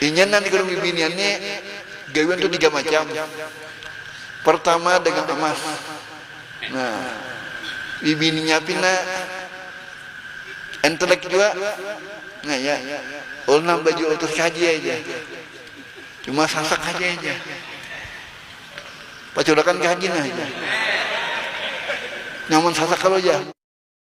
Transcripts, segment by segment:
Inya nang digadung bibinian ni gawian tu tiga macam. Pertama dagang amas. Nah, bibininya pina entelek jua. Nah ya, ulun nang baju utuh sahaja haja. Cuma sasak haja haja. Paculakan kahaginan haja. Nyaman sasak kalu ja.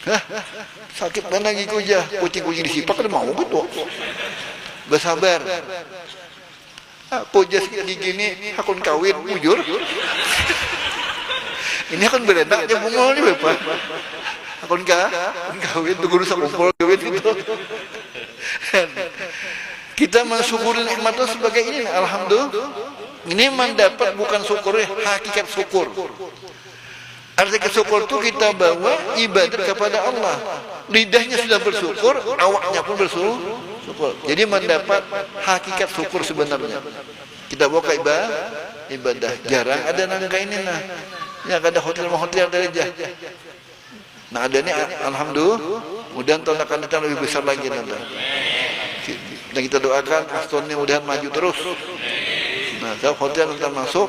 Hah, sakit banar ngiku ja, kucing kucing disipak kada mau aku tu. Basabar. Aku ja sakit gigi ni hakun kawin, bujur. Ini hakun beranak ja Mongol ni bapa. Hakun ka, hakun kawin tu guru sakumpul kawin itu. Kita mansyukuri nikmat tu sebagai ini nah, alhamdul. Ini mandapat bukan syukur, hakikat syukur. Arti kesyukur tu kita bawa ibadat kepada Allah. Lidahnya sudah bersyukur, awaknya pun bersyukur. Jadi mandapat hakikat syukur sebenarnya. Kita bawa ka ibadah. Jarang ada nang kaya ini nah. Nya kada hotir menghotir tadi ja. Nang ada ni alhamdu, mudahan tahun akan datang lebih besar lagi nah tuh. Nah kita doakan Aston ni mudahan maju terus. Nah, sabab hotir nang tamasuk.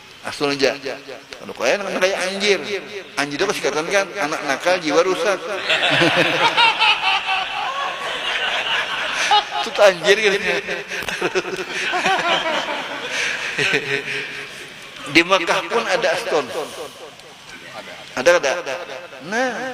Asul ja. Kada kaya nang kaya anjir. Anjir tu kasikatan kan, anak nakal jiwa rusak. Tut anjir gin. Di Mekah pun ada aston. Ada kada? Nah.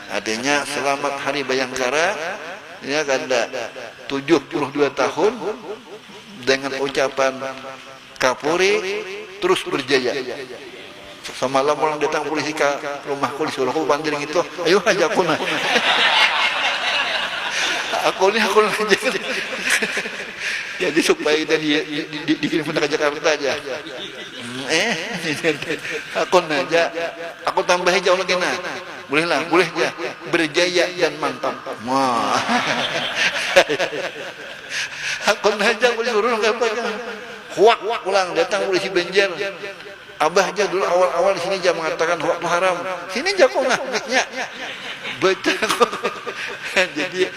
Adanya Selamat Hari Bayangkara nya kada tujuh puluh dua tahun dengan ucapan Kapuri terus berjaya. Samalam urang datang pulisi ka rumahku di Solo, aku bapandir ngitu, ayu haja aku nah. Aku ni hakun haja kena. Jadi supaya kita di di dikirim kena ka Jakarta ja. Eh, hakun haja. Aku tambahi jauh lagi nah. Bulih lah, bulih ja, berjaya dan mantap. Hakun haja ulih urun kayapa kah. Huak pulang datang ulih si Banjar. Abah ja dulu awal-awal di sini ja mengatakan huak tu haram. Sini ja ko nah mie-nya. Baca ko. Jadi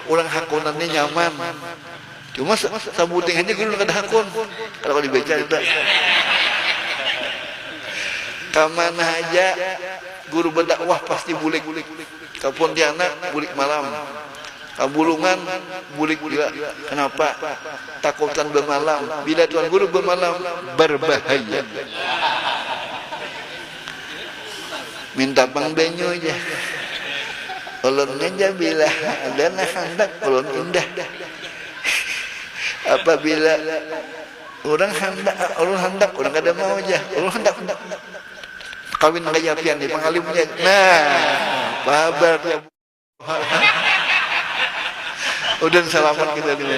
urang hakunan ni nyaman. Cuma sabuting haja guru nang kada hakun. Kada kawa dibaca sudah. Kamana haja guru badakwah pasti bulik. Ka Pontianak bulik malam. Ka Bulungan bulik jua. Kanapa? Takutan bamalam. Bila tuan guru bamalam barbahaya. Minta pang banyu ja. Ulun nganja bila ada nang handak ulun pindah. Apabila urang handak ulun handak urang kada mau ja. Ulun handak kawin kaya pian ni pangalim ja. Nah, babar ja buhak. Udin salamat kita ni.